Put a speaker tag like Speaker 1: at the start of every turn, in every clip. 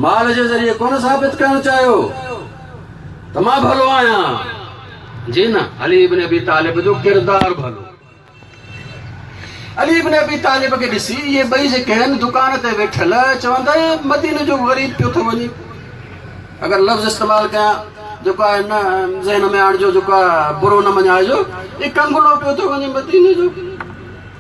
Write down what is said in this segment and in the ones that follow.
Speaker 1: مال جي ذريعي ڪونه ثابت ڪرڻ چاهيو ته مان ڀلو آهيان جي نه علي ابن ابي طالب جو ڪردار ڀلو علي ابن ابي طالب کي ڏسي اهي ٻئي جيڪي آهن دڪان تي ويٺل چون ٿا هي مدينه جو غريب پيو ٿو وڃي اگر لفظ استعمال ڪيان جيڪو آهي نه ذهن ۾ آڻجو جيڪو برو نه مڃائجو هي ڪنگلو پيو ٿو وڃي مدينه جو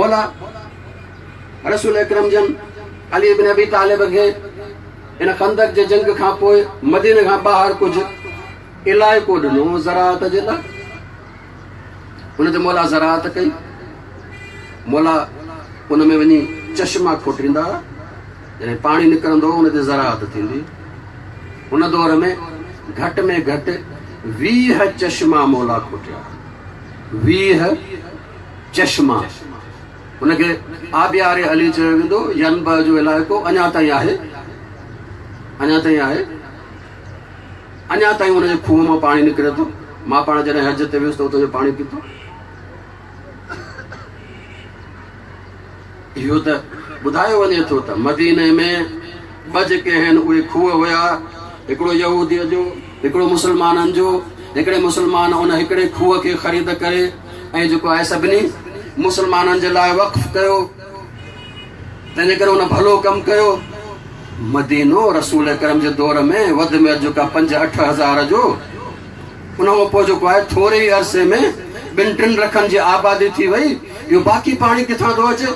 Speaker 1: مولا رسول اڪرم جن علي بن ابي طالب کي ان خندق جي جنگ کان پوء مديني کان ٻاهر ڪجهه علائقو ڏنو زراعت جي لاء ان تي مولا زراعت ڪئي مولا ان ۾ وڃي چشما کوٽيندا يعني پاڻي نڪرندو ان تي زراعت ٿيندي ان دور ۾ گهٽ ۾ گهٽ ويهه چشما مولا کوٽيا ويهه چشما، ان کي آبيار علي چيو ويندو، ينبع جو علائقو اڃا تائين آهي، اڃا تائين آهي، اڃا تائين ان جي کوهه مان پاڻي نڪري ٿو، مان پاڻ جڏهن حج تي ويس ته اتان جو پاڻي پيتو. اهو ته ٻڌايو وڃي ٿو ته مديني ۾ ٻه جيڪي آهن اهي کوهه هيا، هڪڙو يهوديء جو، هڪڙو مسلمانن جو، هڪڙي مسلمان ان هڪڙي کوهه کي خريد ڪري ۽ جيڪو آهي سڀني مسلمانن جي لاء وقف ڪيو، تنهنجي ڪري هن ڀلو ڪم ڪيو. مدينو رسول اڪرم جي دور ۾ وڌ ۾ وڌ جيڪو آهي پنج اٺ هزار جو. ان کان پوء جيڪو آهي ٿوري ئي عرصي ۾ ٻن ٽن لکن جي آبادي ٿي وئي، اهو باقي پاڻي ڪٿان ٿو اچي؟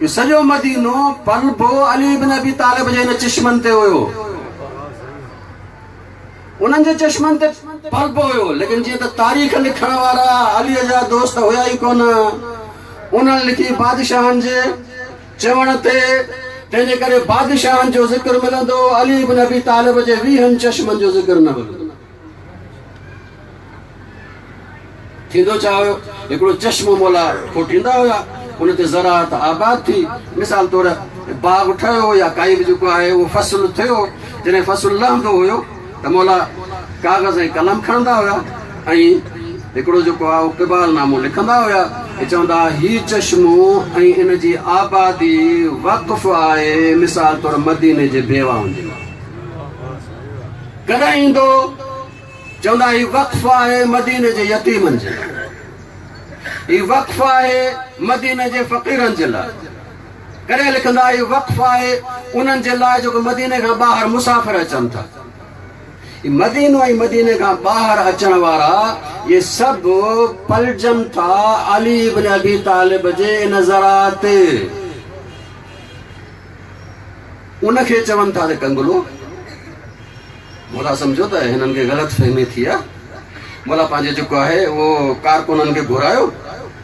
Speaker 1: اهو سڄو مدينو پلبو علي بن ابي طالب جي هن چشمن تي هيو، انهن جي چشمن تي پلبو هيو، ليڪن جيئن ته تاريخ لکڻ وارا علي جا دوست هيا ئي ڪونه، انهن لکي بادشاهن جي. چوڻ تي، تنهن جي ڪري بادشاهن جو ذڪر ملندو، علي بن ابي طالب جي ويهن چشمن جو ذڪر نه ملندو. ٿيندو ڇا هيو؟ هڪڙو چشمو مولا کوٽيندا هيا، ان تي زراعت آباد ٿي، مثال طور باغ ٺهيو يا ڪائي به جيڪو آهي اهو فصل ٿيو، جڏهن فصل لهندو هيو، ته مولا ڪاغذ ۽ قلم کڻندا هيا ۽ هڪڙو جيڪو آهي اهو قبال نامو لکندا هيا ۽ چوندا هيا هي چشمو ۽ ان جي آبادي وقف آهي مثال طور مديني جي بيواهن جي لاء ڪڏهن ايندو چوندا هيا هي وقف آهي مديني جي يتيمن جي لاء هي وقف آهي مديني جي فقيرن جي لاء ڪڏهن لکندا هي وقف آهي انهن جي لاء جيڪو مديني کان ٻاهر مسافر اچن ٿا هي مدينو ۽ مديني کان ٻاهر اچڻ وارا اهي سڀ پلجن ٿا علي ابن ابي طالب جي ان ذرا تي ان کي چون ٿا ته ڪنگلو مولا سمجھو ته هنن کي غلط فهمي ٿي آهي مولا پنهنجي جيڪو آهي اهو ڪارڪنن کي گهرايو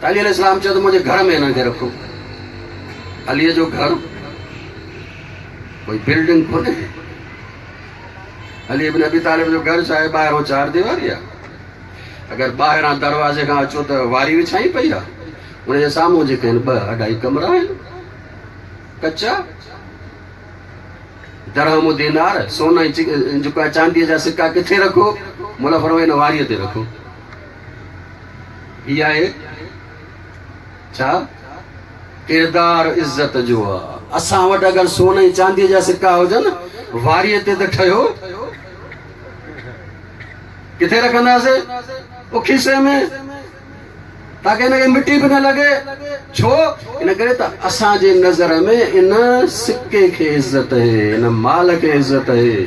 Speaker 1: ته علي عليه السلام چيو ته منهنجي گهر ۾ هنن کي رکو. عليء جو گهر ڪوئي بلڊنگ ڪونهي. علي ابن ابي طالب جو گهر ڇاهي ٻاهران چار ديواري آهي. اگر ٻاهران دروازي کان اچو ته واري وڇائي پئي آهي. ان جي سامهون جيڪي آهن ٻه اڍائي ڪمرا آهن ڪچا. درهم و دينار سون ۽ چانديء جا سڪا ڪٿي رکو؟ موليٰ فرمايو ان واريء تي رکو. هي آهي ڇا؟ ڪردار عزت جو آ. اسان وٽ اگر سون ۽ چانديء جا سڪا هجن، واريء تي ته ٺهيو. ڪٿي رکنداسين؟ او کيسي ۾. تاڪه هن کي مٽي به نه لڳي. ڇو؟ ان ڪري ته اسان جي نظر ۾ ان سڪي کي عزت اهي، ان مال کي عزت اهي.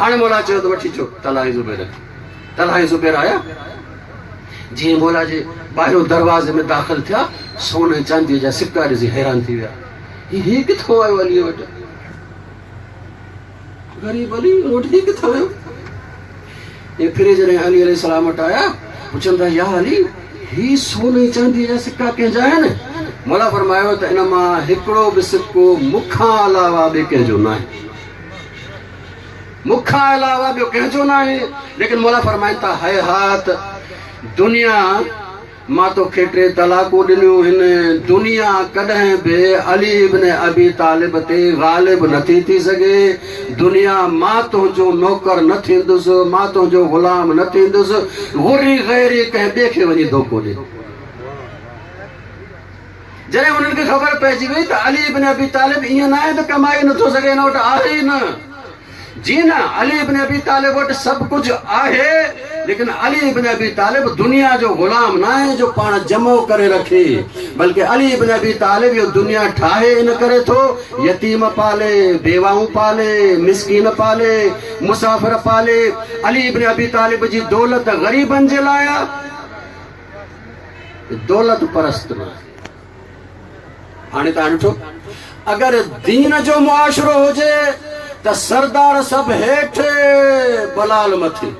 Speaker 1: هاڻي مولا چيو ته وٺي اچو طلحه ۽ زبير کي. طلحه ۽ زبير آيا. جيئن مولا جي ٻاهريون دروازي ۾ داخل ٿيا، سون ۽ چانديء جا سڪا ڏسي حيران ٿي ويا. هي هي ڪٿان آيو عليء وٽ؟ غريب علي وٽ هي ڪٿان آيو؟ ۽ ڦري جڏهن علي عليه السلام وٽ آيا، پڇن ٿا يا علي هي سون ۽ چانديء جا سڪا ڪنهن جا آهن؟ مولا فرمايو ته ان مان هڪڙو به سڪو مون کان علاوه ٻئي ڪنهن جو ناهي. مون کان علاوه ٻيو ڪنهن جو ناهي. ليڪن مولا فرمائن ٿا، هيهات! دنيا مان تو کي ٽي طلاقون ڏنيون هن، دنيا ڪڏهن به علي ابن ابي طالب تي غالب نٿي ٿي سگهي، دنيا مان تنهنجو نوڪر نه ٿيندس، مان تنهنجو غلام نه ٿيندس، غري غيري ڪنهن ٻئي کي وڃي ڌوڪو ڏي. جڏهن انهن کي خبر پئجي وئي ته علي ابن ابي طالب ائين ناهي ته ڪمائي نٿو سگهي هن وٽ آهي ئي نه. جي نه، علي ابن ابي طالب وٽ سڀ ڪجهه آهي، ليڪن علي ابن ابي طالب دنيا جو غلام ناهي جو پاڻ جمع ڪري رکي، بلڪه علي ابن ابي طالب اهو دنيا ٺاهي ان ڪري ٿو، يتيم پالي، بيواهون پالي، مسڪين پالي، مسافر پالي، علي ابن ابي طالب جي دولت غريبن جي لاء آ. دولت پرست نه آهي. هاڻي توهان ڏٺو اگر دين جو معاشرو هجي ته سردار سڀ هيٺ بلال مٿي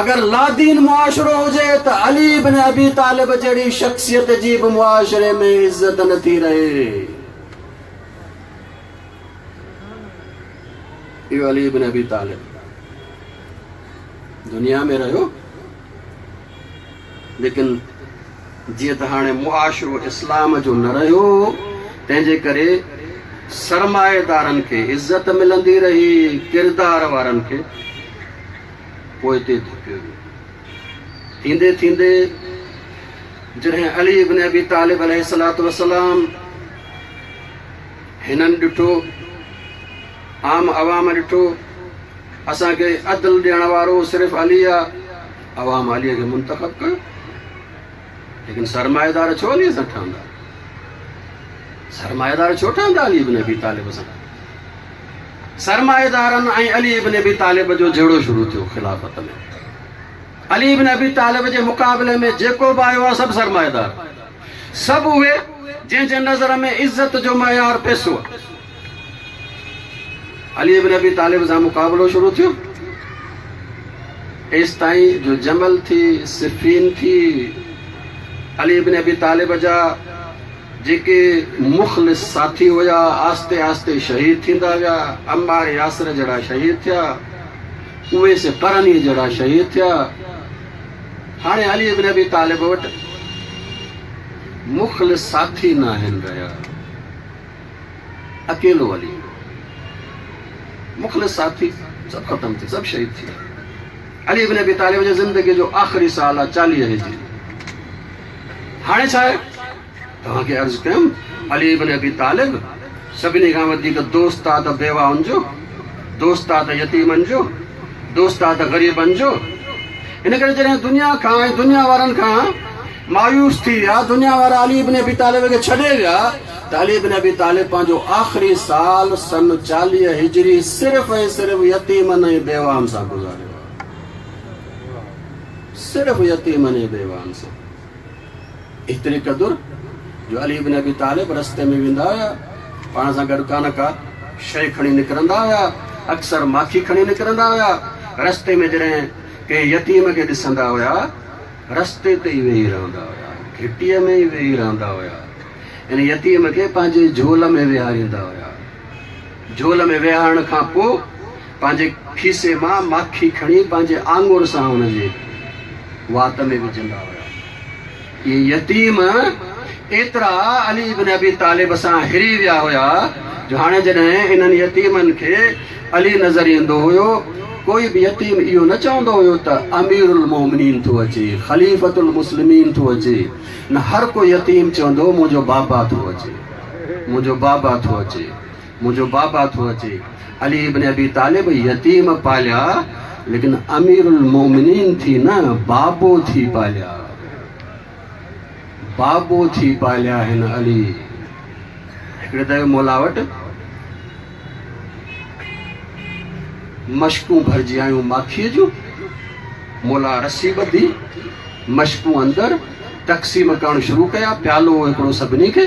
Speaker 1: اگر لادين معاشرو هجي ته علي بن ابي طالب جهڙي شخصيت جي به معاشري ۾ عزت نه ٿي رهي اهو علي بن ابي طالب دنيا ۾ رهيو ليڪن جيئن ته هاڻي معاشرو اسلام جو نه رهيو هو، تنهن جي ڪري سرمائيدارن کي عزت ملندي رهي، ڪردار وارن کي پوئتي ڌڪيو ويو. ٿيندي ٿيندي جڏهن علي ابن ابي طالب عليه الصلوة والسلام هنن ڏٺو، عام عوام ڏٺو، اسان کي عدل ڏيڻ وارو صرف علي آ، عوام علي کي منتخب ڪيو، ليڪن سرمائيدار ڇو علي سان ٺهندا؟ سرمائيدار ڇو ٺهندا علي ابن ابي طالب سان؟ سرمائيدارن ۽ علي ابن ابي طالب جو جهيڙو شروع ٿيو خلافت ۾ علي ابن ابي طالب جي مقابلي ۾ جيڪو به آيو آ سڀ سرمائيدار سڀ اهي جنهن جي نظر ۾ عزت جو معيار پئسو آ. علي بن ابي طالب سان مقابلو شروع ٿيو. ايستائين جو جمل ٿي، صفين ٿي. علي بن ابي طالب جا جيڪي مخلص ساٿي هيا، آهستي آهستي شهيد ٿيندا ويا. عمار ياسر جهڙا شهيد ٿيا. اويس قرني جهڙا شهيد ٿيا. هاڻي علي ابن ابي طالب وٽ مخلص ساٿي ناهن رهيا، اڪيلو علي هو، مخلص ساٿي سڀ ختم ٿي، سڀ شهيد ٿي ويا. علي ابن ابي طالب جي زندگي جو آخري سال آهي چاليهه هجري. هاڻي ڇا آهي؟ توهان کي عرض ڪيم علي ابن ابي طالب سڀني کان وڌيڪ دوست آ ته بيواهن جو، دوست آ ته يتيمن جو، دوست آ ته غريبن جو. ان ڪري جڏهن دنيا کان ۽ دنيا وارن کان مايوس ٿي ويا، دنيا وارا علي ابن ابي طالب کي ڇڏي ويا ته علي ابن ابي طالب پنهنجو آخري سال سن چاليهه هجري صرف ۽ صرف يتيمن ۽ بيواهن سان گذاريو آ. صرف يتيمن ۽ بيواهن سان. ايتري قدر جو علي بن ابي طالب رستي ۾ ويندا هيا، پاڻ سان گڏ ڪا نه ڪا شيء کڻي نڪرندا هيا، اڪثر ماکي کڻي نڪرندا هيا، رستي ۾ جڏهن ڪنهن يتيم کي ڏسندا هيا، رستي تي ئي ويهي رهندا هيا، گهٽيء ۾ ئي ويهي رهندا هيا، ان يتيم کي پنهنجي جهول ۾ ويهاريندا هيا. جهول ۾ ويهارڻ کان پوء پنهنجي کيسي مان ماکي کڻي پنهنجي آڱر سان ان جي وات ۾ وجهندا هيا. اهي يتيم ايترا علي بن ابي طالب سان هري ويا هيا جو هاڻي جڏهن انهن يتيمن کي علي نظر ايندو هيو، ڪوئي به يتيم اهو نه چوندو هيو ته امير المومنين ٿو اچي، خليفة المسلمين ٿو اچي، نه هر ڪو يتيم چوندو هو منهنجو بابا ٿو اچي، منهنجو بابا ٿو اچي. منهنجو بابا ٿو اچي. علي ابن ابي طالب يتيم پاليا ليڪن امير المومنين ٿي نه بابو ٿي پاليا. بابو ٿي پاليا هن علي. هڪڙي دفعي مولا وٽ مشڪون ڀرجي آيون ماکيء جون. مولا رسي ٻڌي مشڪون اندر تقسيم ڪرڻ شروع ڪيا. پيالو هڪڙو سڀني کي.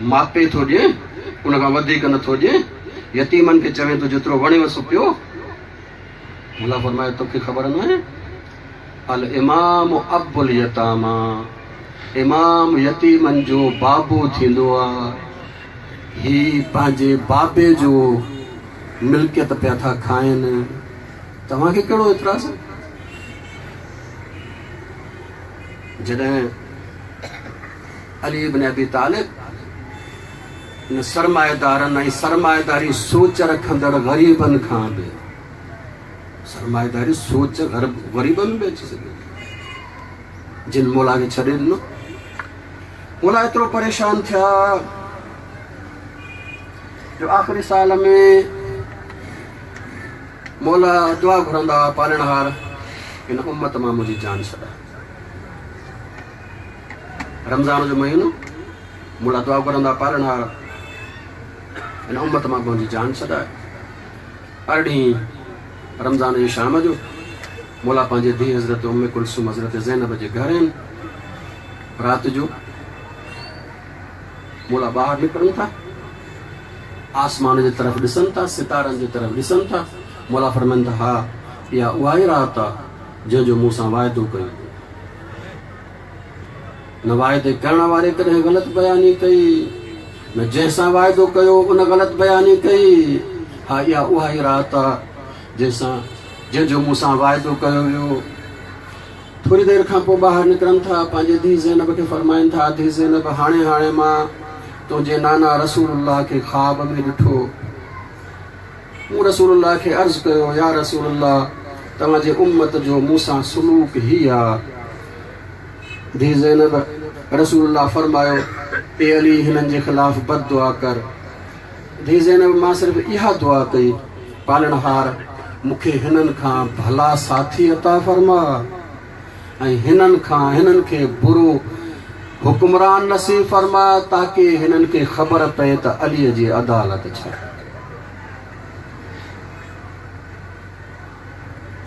Speaker 1: ماپي ٿو ڏيئين، ان کان وڌيڪ نه ٿو ڏيئين، يتيمن کي چوين ٿو جيترو وڻيو سو پيو. الله فرمايو تو کي خبر ناهي، الامام ابو اليتاما، امام يتيمن جو بابو ٿيندو آ، هي پنهنجي بابي جو ملڪيت پيا ٿا کائين، توهان کي ڪهڙو اعتراض آ؟ جڏهن علي بن ابي طالب نه سرمائيدارن ۽ سرمائيداري سوچ رکندڙ غريبن کان به سرمائيداري سوچ غريبن به اچي سگهي جن مولا کي ڇڏي ڏنو مولا ايترو پريشان ٿيا جو آخري سال ۾ مولا دعا گهرندا پالڻهار ان امت مان منهنجي جان ڇڏا رمضان جو مهينو مون لاء دعا گهرندا پالڻهار هن امت مان پنهنجي جان ڇڏائي ارڙهين رمضان جي شام جو مولا پنهنجي ڌي حضرت ام کلسوم حضرت زينب جي گهر آهن رات جو مولا ٻاهر نڪرن ٿا آسمان جي طرف ڏسن ٿا ستارن جي طرف ڏسن ٿا مولا فرمائن ٿا ها اها اها ئي رات آهي جنهن جو مون سان واعدو ڪيو هو. نه واعدي ڪرڻ واري ڪڏهن غلط بياني ڪئي، نه جنهن سان واعدو ڪيو ان غلط بياني ڪئي. ها اها اها ئي رات آ جنهن سان جنهن جو مون سان واعدو ڪيو ويو. ٿوري دير کان پوء ٻاهر نڪرن ٿا، پنهنجي ڌيء زينب کي فرمائن ٿا، ڌيء زينب هاڻي هاڻي مان تنهنجي نانا رسول الله کي خواب ۾ ڏٺو. مون رسول الله کي عرض ڪيو، يا رسول الله! توهان جي امت جو مون سان سلوڪ هي آ. ڌيء زينب، رسول الله فرمايو، اي علي هنن جي خلاف بد دعا ڪر. ڌيء زينب، مان صرف اها دعا ڪئي، پالڻهار! مون کي هنن کان ڀلا ساٿي عطا فرماء. ۽ هنن کان هنن کي برو حڪمران نصيب فرماء تاڪه هنن کي خبر پئي ته عليء جي عدالت ڇا آهي.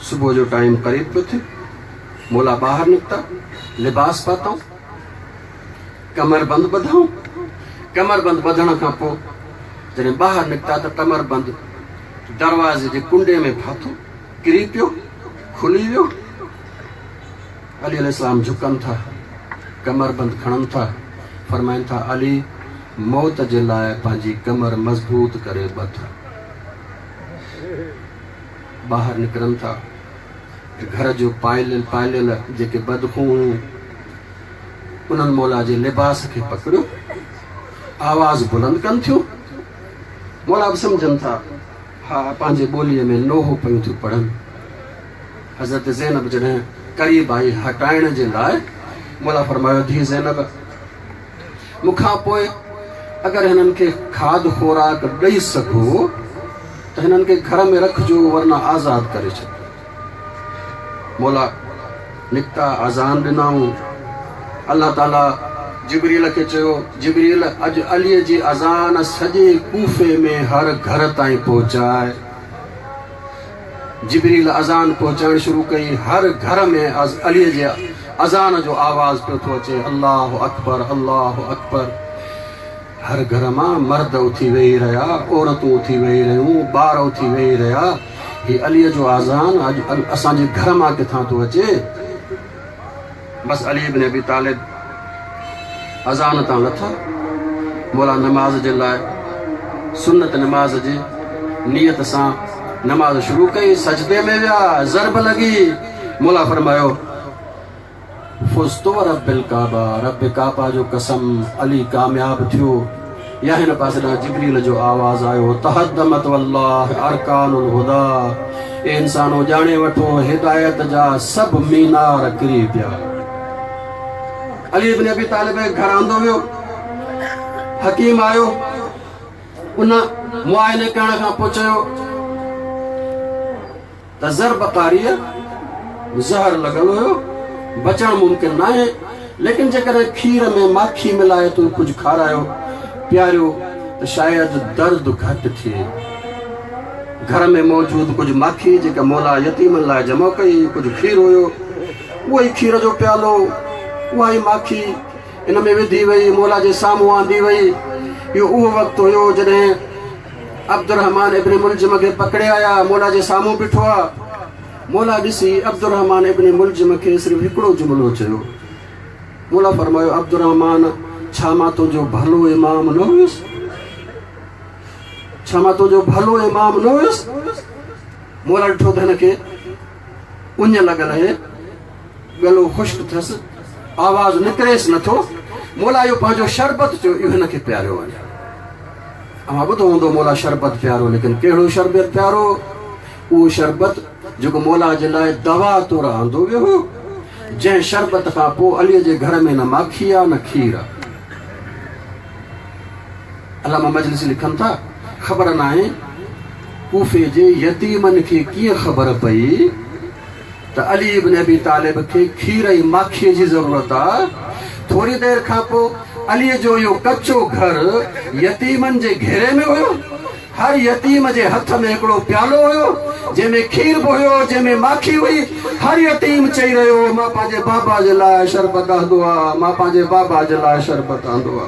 Speaker 1: صبح جو ٽائيم قريب پيو ٿي. مولا ٻاهر نڪتا، لباس پاتائون، ڪمر بند ٻڌائون. ڪمر بند ٻڌڻ کان پوء جڏهن ٻاهر نڪتا ته ڪمر بند دروازي جي ڪنڊي ۾ ڦاٿو. ڪري پيو، کلي ويو. علي عليه السلام جهڪن ٿا، ڪمربند کڻن ٿا، فرمائن ٿا، علي موت جي لاء پنهنجي ڪمر مضبوط ڪري ٻڌ. ٻاهر نڪرن ٿا ته گهر جو پائليل پائليل جيڪي بدخون هيون، انهن مولا جي لباس کي پڪڙيو، آواز بلند ڪن ٿيون. مولا به سمجهن ٿا. ها پنهنجي ٻوليء ۾ لوهه پيون ٿيون پڙهن. حضرت زينب جڏهن قريب آئي هٽائڻ جي لاء، مولا فرمايو، ڌيء زينب! مون کان پوء اگر هنن کي کاڌ خوراڪ ڏئي سگهو ته هنن کي گهر ۾ رکجو ورنه آزاد ڪري ڇڏجو. مولا نڪتا اذان ڏنائون الله تعالي جبريل کي چيو جبريل اڄ علي جي اذان سڄي ڪوفي ۾ هر گهر تائين پهچاء جبريل اذان پهچائڻ شروع ڪئي هر گهر ۾ علي جي اذان جو آواز پيو ٿو اچي الله اڪبر الله اڪبر هر گهر مان مرد اٿي ويهي رهيا، عورتون اٿي ويهي رهيون، ٻار اٿي ويهي رهيا، هي عليء جو آذان اڄ اسان جي گهر مان ڪٿان ٿو اچي؟ بس علي بن ابي طالب اذان تان لٿا، مولا نماز جي لاء سنت نماز جي نيت سان نماز شروع ڪئي، سجدي ۾ ويا، ضرب لڳي، مولا فرمايو. فزت ورب الکعبه رب ڪعبه جو قسم علي ڪامياب ٿيو يا هن پاسي ڏانهن جبريل جو آواز آيو تهدمت والله ارڪان الهدى اي انسانو ڄاڻي وٺو هدايت جا سڀ مينار ڪري پيا علي ابن ابي طالب گهر آندو ويو حڪيم آيو ان معائنه ڪرڻ کان پوء چيو ته زر بخاريء ۾ زهر لڳل هيو، بچڻ ممڪن ناهي، ليڪن جيڪڏهن کير ۾ ماکي ملائي تون ڪجهه کارايو، پياريو ته شايد درد گهٽ ٿئي. گهر ۾ موجود ڪجهه ماکي جيڪا مولا يتيمن لاء جمع ڪئي هئي، ڪجهه کير هيو، اهو ئي کير جو پيالو، اها ئي ماکي، ان ۾ وڌي ويئي، موليٰ جي سامهون آندي ويئي. اهو اهو وقت هيو، جڏهن عبدالرحمان ابن ملجم کي پڪڙي آيا، موليٰ جي سامهون بيٺو آ. موليٰ ڏسي، عبدالرحمان ابن ملجم کي صرف هڪڙو جملو چيو. موليٰ فرمايو، عبدالرحمان! ڇا مان تنهنجو ڀلو امام نه هيس؟ ڇا مان تنهنجو ڀلو امام نه هيس؟ موليٰ ڏٺو ته هن کي اڃ لڳل اهي. ڳلو خشڪ ٿس، آواز نڪريس نه ٿو. مولا اهو پنهنجو شربت جو اهو هن کي پياريو وڃي. اوهان ٻڌو هوندو مولا شربت پيارو ليڪن ڪهڙو شربت پيارو؟ اهو شربت جيڪو مولا جي لاء دوا طور آندو ويو هو، جنهن شربت کان پوء علي جي گهر ۾ نه ماکي آ نه کير آ. علامه مجلسي لکن ٿا، خبر ناهي ڪوفي جي يتيمن کي ڪيئن خبر پئي، ته علي ابن ابي طالب کي کير ۽ ماکيء جي ضرورت آ. ٿوري دير کان پوء عليء جو اهو ڪچو گهر يتيمن جي گهيري ۾ هيو. هر يتيم جي هٿ ۾ هڪڙو پيالو هيو، جنهن ۾ کير به هيو، جنهن ۾ ماکي هئي. هر يتيم چئي رهيو هو، مان پنهنجي بابا جي لاء شربت آندو آ، مان پنهنجي بابا جي لاء شربت آندو آ.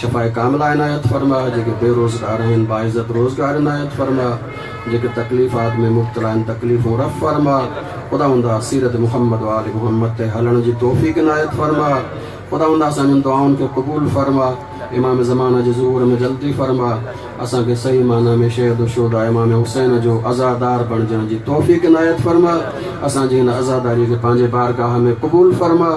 Speaker 1: شفاء ڪامله عنايت فرماء، جيڪي بي روزگار آهن باعزت روزگار عنايت فرماء، جيڪي تڪليفات ۾ مبتلا آهن تڪليفون رفع فرماء، خداوندا سيرت محمد و آل محمد تي هلڻ جي توفيق عنايت فرماء، خداوندا اسان جن دعائن کي قبول فرماء، امام زمانه جي ظهور ۾ جلدي فرماء، اسان کي صحيح معنيٰ ۾ شيد الشهداء امام حسين جو عزادار بڻجڻ جي توفيق عنايت فرماء، اسان جي هن عزاداري کي پنهنجي بارگاهه ۾ قبول فرماء.